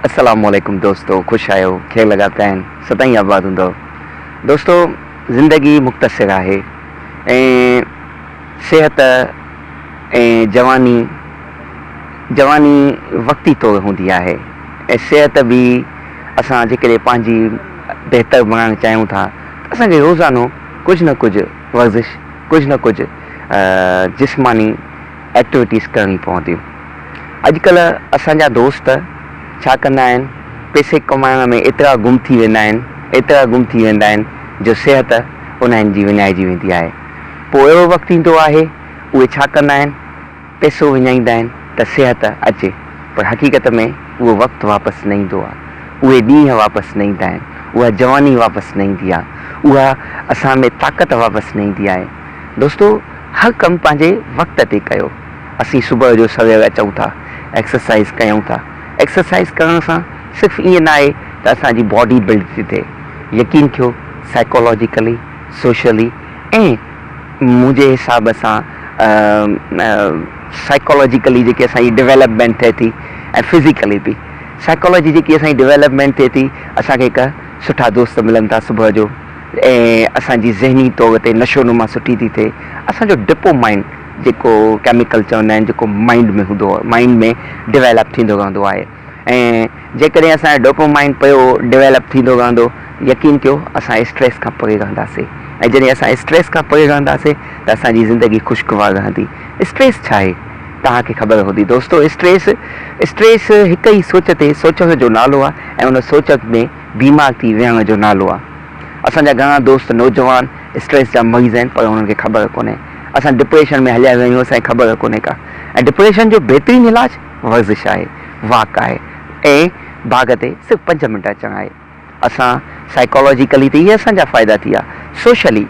السلام عليڪم دوستو خوش آهيو کير لڳاتا آهن سدائين آباد هوندؤ دوستو زندگي مختصر آهي ۽ صحت ۽ جواني جواني وقتي طور هوندي آهي ۽ صحت به اسان جيڪڏهن پنهنجي بهتر بڻائڻ چاهيون ٿا اسان کي روزانو ڪجهه نه ڪجهه ورزش ڪجهه نه ڪجهه جسماني ايڪٽويٽيز ڪرڻي پونديون. اڄڪلهه اسان جا دوست ڇا ڪندا آهن پئسي ڪمائڻ ۾ ايترا گم ٿي ويندا آهن ايترا گم ٿي ويندا آهن جو صحت انهن جي وڃائجي ويندي آهي. پوء اهڙو وقت ايندو آهي اهي ڇا ڪندا آهن؟ پئسو وڃائيندا آهن ته صحت اچي پر حقيقت ۾ اهو وقت واپس نه ايندو آهي، اهي ڏينهن واپس نه ايندا آهن، اها جواني واپس نه ايندي آهي، اها اسان ۾ طاقت واپس نه ايندي آهي. دوستو هر ڪم پنهنجي وقت تي ڪيو. اسين صبح جو سوير اچون ٿا، ايڪسرسائيز ڪيون ٿا، ايڪسرسائيز ڪرڻ سان صرف ائين نه آهي ته اسان جي باڊي بلڊ ٿي ٿئي، يقين ٿيو سائيڪالاجيڪلي، سوشلي ۽ منهنجي حساب سان سائيڪالاجيڪلي جيڪي اسان جي ڊويلپمينٽ ٿئي ٿي ۽ فزيڪلي به سائيڪالاجي جيڪي اسان جي ڊويلپمينٽ ٿئي ٿي اسان کي هڪ سٺا دوست ملن ٿا صبح جو ۽ اسان جي ذهني طور تي نشو نما سٺي ٿي ٿئي اسان جو ڊپو مائن جيڪو ڪيميڪل چوندا آهن جيڪو مائنڊ ۾ هوندو مائنڊ ۾ ڊويلپ ٿيندو رهندو آهي ۽ جيڪڏهن اسان جو ڊوپومائن پيو ڊويلپ ٿيندو رهندو، يقين ڪيو اسان اسٽريس کان پري رهنداسين ۽ جڏهن اسان اسٽريس کان پري رهنداسين ته اسان جي زندگي خوشگوار رهندي. اسٽريس ڇا آهي؟ توهان کي خبر هوندي دوستو اسٽريس اسٽريس هڪ ئي سوچ تي سوچڻ جو نالو آهي ۽ ان سوچ ۾ بيمار ٿي ويهڻ جو نالو آهي. اسان جا گهڻا دوست نوجوان اسٽريس جا مريض آهن پر انهن کي خبر ڪونهي. اسان ڊپريشن ۾ هليا ويا آهيون اسان کي خبر ڪونهي ڪا ۽ ڊپريشن جو بهترين علاج ورزش آهي، واڪ آهي ۽ باغ تي صرف پنج منٽ اچڻ آهي. اسان سائيڪالاجيڪلي ته اهي اسان جا فائدا ٿيا، سوشلي،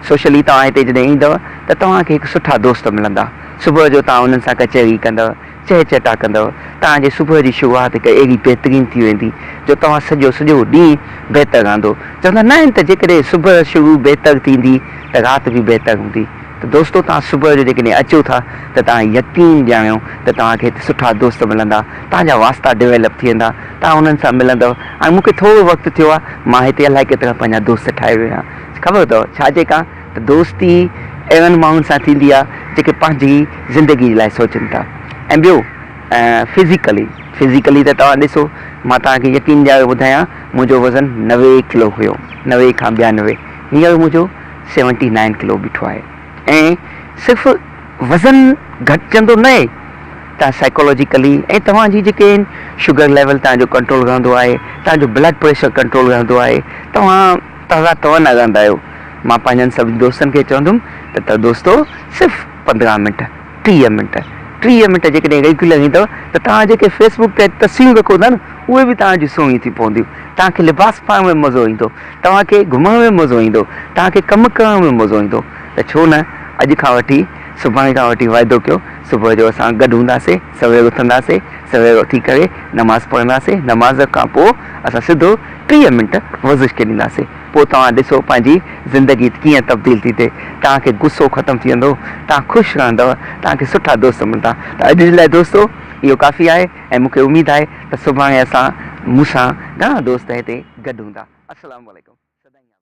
سوشلي توهان هتي جڏهن ايندؤ ته توهان کي هڪ سٺا دوست ملندا، صبح جو توهان انهن سان ڪچهري ڪندؤ، چهچٽا ڪندؤ، توهان جي صبح جي شروعات هڪ اهڙي بهترين ٿي ويندي جو توهان سڄو سڄو ڏينهن بهتر رهندو، چوندا نه آهن ته جيڪڏهن صبح شروع بهتر ٿيندي ته رات به بهتر هوندي. ته دوستو توهان صبح جو جيڪڏهن اچو ٿا ته توهان يقين ڄاڻيو ته توهان کي هتي سٺا دوست ملندا، توهان جا واسطا ڊويلپ ٿي ويندا، توهان انهن سان ملندؤ، هاڻي مون کي ٿورو وقت ٿيو آهي مان هتي الائي ڪيترا پنهنجا دوست ٺاهي ويو آهيان، خبر اٿئو ڇا جي ڪان ته دوستي اهڙن ماڻهن سان ٿيندي آهي جيڪي پنهنجي زندگي جي لاء سوچن ٿا ۽ ٻيو فزيڪلي فزيڪلي ته توهان ڏسو مان توهان کي يقين ڏياري ٻڌايان منهنجو وزن نوي ڪلو هيو نوي کان ٻيانوي هينئر منهنجو سيونٽي نائن ڪلو بيٺو آهي ۽ صرف وزن گهٽجندو نه اهي تان سائيڪولوجيڪلي ۽ توهان جي جيڪي آهن شگر ليول تان جو ڪنٽرول رهندو آهي تان جو بلڊ پريشر ڪنٽرول رهندو آهي توهان تازا توانا رهندا آهيو مان پنهنجن سڀني دوستن کي چوندم ته ته دوستو صرف پندرهن منٽ ٽيهه منٽ ٽيهه منٽ جيڪڏهن ريگيولر ايندؤ ته توهان جيڪي فيس بڪ تي تصويرون رکو ٿا نه اهي به توهان جون سهڻيون ٿي پونديون توهان کي لباس پائڻ ۾ مزو ايندو توهان کي گهمڻ ۾ مزو ايندو توهان کي ڪم ڪرڻ ۾ مزو ايندو ته ڇو نه اڄ کان وٺي سڀاڻي کان وٺي واعدو ڪيو صبح جو اسان گڏ هونداسين سوير اٿنداسين سوير اٿي ڪري نماز پڙهنداسين نماز کان پوء اسان سڌو ٽيهه منٽ ورزش کي ڏينداسين پوء توهان ڏسو پنهنجي زندگي ڪيئن تبديل ٿي ٿئي. توهان کي غصو ختم ٿي ويندو، توهان خوش رهندؤ، توهان کي سٺا دوست ملندا. ته اڄ جي لاء دوستو اهو ڪافي آهي ۽ مون کي اميد آهي ته سڀاڻي اسان مون سان گهڻا دوست هتي گڏ هوندا. السلام عليڪم. سدائين آباد.